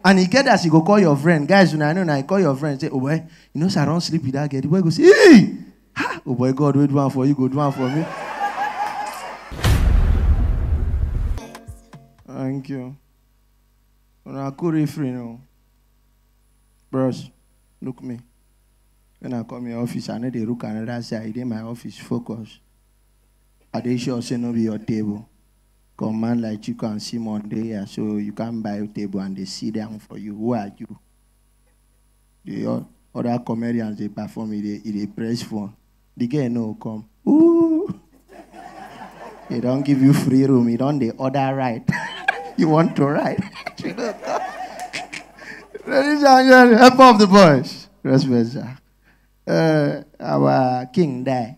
And e get as you go call your friend, guys, una know na you call your friend say, oh boy, you know say I don sleep with that girl. The boy go say, hey, ha, oh boy, God wey do am for you go do am for me. Thank you. Una cool refrain o. Bros, look me. When I come your office, I no dey look another side. E dey my office, focus. I dey sure say no be your table. Come man like Chico and Simon dey here, so you can't buy a table and they sit down for you. Who are you? The o- other comedians they perform, e dey e dey press phone. The girl no come. Ooh, they don't give you free room. You don't the other right. you want to ride? She no come. Ladies and gentlemen, help of the boys. Respect, sir. Uh, our king die.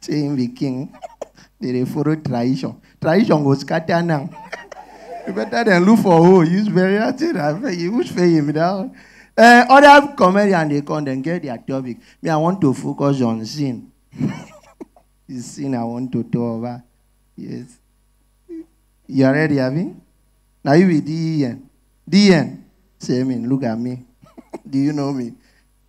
say him be king they dey follow tradition tradition go scatter now you better than look for who use burial thing and pay you which pay him now uh, other comedian dey come dem get their topic me i want to focus on sin the sin i want to talk about yes you are ready abi na you be den den say me look at me do you know me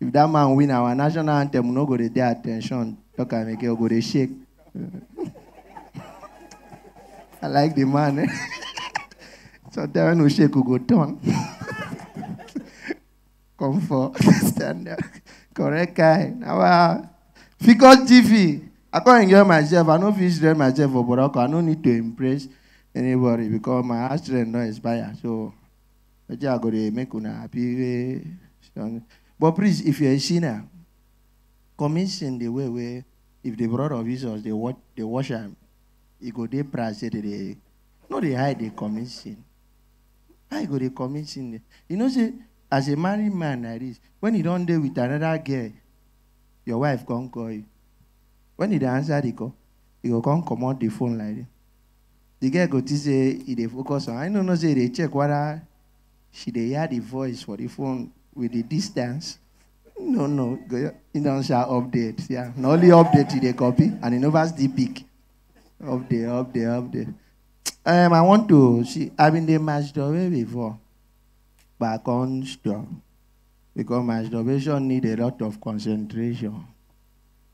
If that man win our national anthem, we no go dey dey attention. Talk am again, we go dey shake. I like the man. Eh? Sometimes when we shake, we go turn. Come for stand up. Correct guy. Now, uh, figure TV. I can't enjoy myself. I no fit enjoy myself for Boroko. I no need to impress anybody because my heart strength no expire. So But I go dey make una happy wey she don. But please, if you're a sinner, commit sin the way wey if the blood of Jesus dey wash dey wash am, e go dey proud say dey dey no dey hide dey commit sin. How you go dey commit sin dey? You know say as a married man like this, when you don dey with another girl, your wife come call you. When you dey answer the call, you go come comot the phone like this. The girl go think say e dey focus on her. I no know say e dey check whether she dey hear the voice for the phone with the distance. No, no. He don share update. Yeah. Na only update he dey copy and he never still pick. Update, update, update. Um, I want to see. I been dey masturbate before, but I come stop because masturbation need a lot of concentration.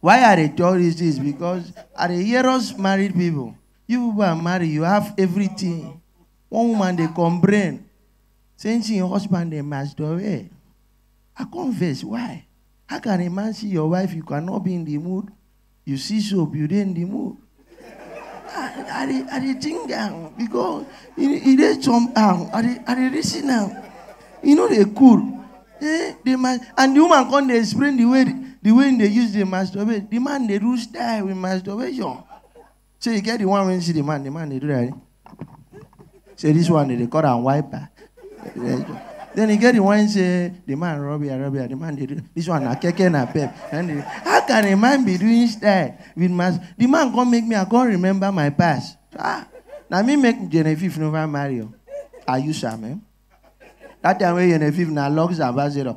Why I dey talk this things because I dey hear us married people. You people are married, you have everything. One woman dey complain, saying she her husband dey masturbate. I come vex, why? How can a man see your wife, you cannot be in the mood? You see soap, you dey in the mood. I dey I dey think am because e e dey somehow. I dey I dey reason am. E no dey cool. Eh, the man and the woman come dey explain the way the way im dey use dey masturbate. The man dey do style with masturbation. Shey you get the one wey you see the man, the man dey do like dis. say this one they call am wiper then e get the one say the man rub here rub here the man dey do this one na keke na pep and the, how can a man be doing style with my the man come make me i come remember my past ah na me make genevieve never marry o are you sure man that time wey genevieve na lux ambassador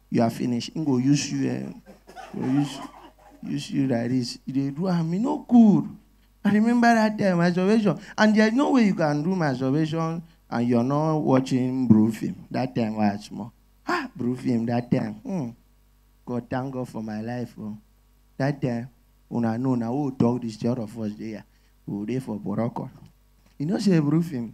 you are finished. He go use you, eh, go use, use you like this. You dey do am, e no good. I remember that time, masturbation. And there's no way you can do masturbation and you're not watching Bru film. That time was small. Ah, Bru film that time. Hmm. God thank God for my life. Oh. That time, una know na who talk this the other first day. We dey for Boroko. You know say Bru film.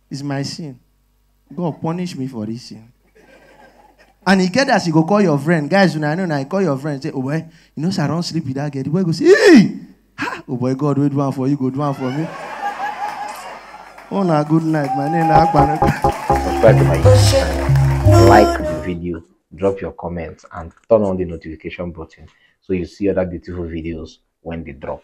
It's my sin. God punish me for this sin. And he get as you go call your friend. Guys, when I know, I call your friend. Say, oh boy, you know, so I don't sleep with that girl. The boy goes, hey! Ha! Oh boy, God, wait one for you, go do one for me. oh, no, good night. My name is Subscribe to my YouTube channel. Like the video, drop your comments, and turn on the notification button so you see other beautiful videos when they drop.